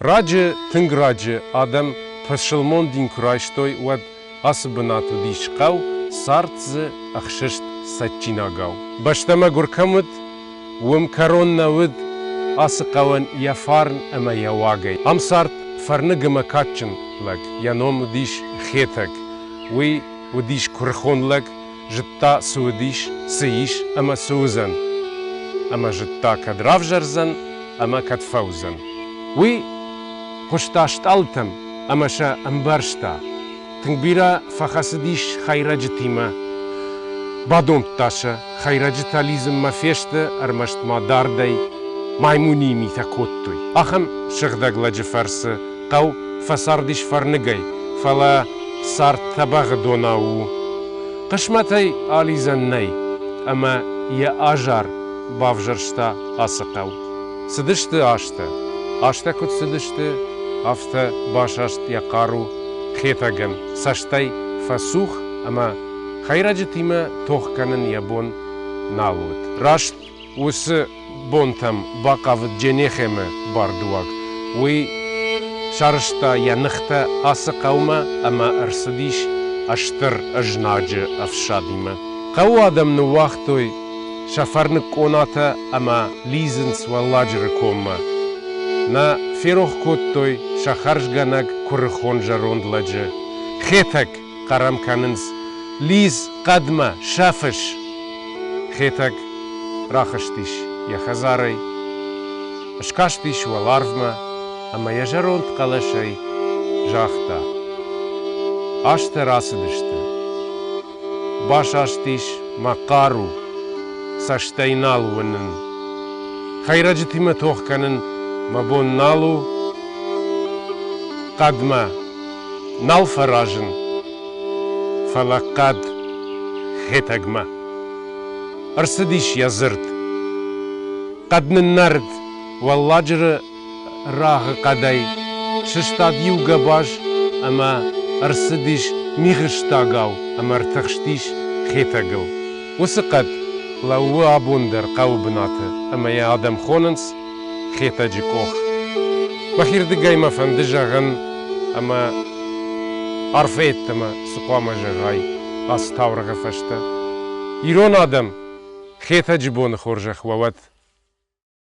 Раджы, тынг раджы адӕм пысылмон дин куы райстой, уӕд ацы бынат уыдис хъӕу, цард дзы ӕхсыст цӕджджинагау. Бӕстӕмӕ гуыр кӕм уыд, уым кӕрон нӕ уыд ацы хъӕуӕн йӕ фарн ӕмӕ йӕ уагӕй. Ам цард фӕрныг ӕмӕ кадджын лӕг, йӕ ном уыдис Хетӕг, уый уыдис куырыхон лӕг, Зыдта, цы уыдис, цы ис ӕмӕ цы уыдзӕн. Ӕмӕ зыдта, кӕд равзӕрдзӕн ӕмӕ кӕд фӕуыдзӕн, уый. Хъуыста стъалытӕм ӕмӕ сӕ ӕмбӕрста. Тынг бирӕ фӕхӕцыдис хӕйрӕджытимӕ. Бадомдта сӕ, хӕйрӕджытӕ лидзынмӕ фесты, ӕрмӕст ма дардӕй маймуниы митӕ кодтой. Ахӕм сыгъдӕг лӕджы фӕрцы хъӕу фӕцардис фӕрныгӕй, фӕлӕ цард тӕбӕгъы донау у. Хъысмӕтӕй алидзӕн нӕй, ӕмӕ йӕ азар бавзӕрста ацы хъӕу. Цыдысты азтӕ. Азтӕ куыд цыдысты, афтӕ басаст йӕ хъару Хетӕгӕн, цӕстӕй фӕцух ӕмӕ хӕйрӕджытимӕ тох кӕнын йӕ бон нал уыд. Раст Уыцы бонтӕм бахъавыд Дженехемы бардуаг. Уый сарызта йӕ ныхтӕ ацы хъӕумӕ ӕмӕ ӕрцыдис стыр ызнаджы ӕфсадимӕ. Хъӕуы адӕм ныууагътой сӕ фӕрныг къонатӕ ӕмӕ лидзынц Уӕлладжыры коммӕ. Нӕ ферох кодтой сӕ хӕрзгӕнӕг куырыхон зӕронд лӕджы, Хетӕг. хъарам кӕнынц. Лидз хъӕдмӕ, сӕ фыс! Хетӕг рахызтис йӕ хӕдзарӕй, скастис уӕларвмӕ ӕмӕ йӕ зӕронд хъӕлӕсӕй загъта. Азтӕ рацыдысты. Басастис мӕ хъару, цӕстӕй нал уынын. Хӕйрӕджытимӕ тох кӕнын мӕ бон нал у. Хъӕдмӕ нал фӕразын, фӕлӕ хъӕд Хетӕгмӕ. Ӕрцыдис йӕ дзырд. Хъӕд ныннӕрыд, Уӕлладжыры рагъы хъӕдӕй сыстад иу гӕбаз ӕмӕ ӕрцыдис мигъыстӕгау ӕмӕ ӕртыхстис Хетӕгыл. Уыцы хъӕд лӕууы абон дӕр хъӕуы бынаты ӕмӕ йӕ адӕм хонынц Хетӕджы къох. Бахирдыгӕй мӕ фӕнды зӕгъын, ӕмӕ арфӕ йеддӕмӕ цы хъуамӕ зӕгъай ацы таурӕгъы фӕстӕ. Ирон адӕм, Хетӕджы боны хорзӕх уӕ уӕд!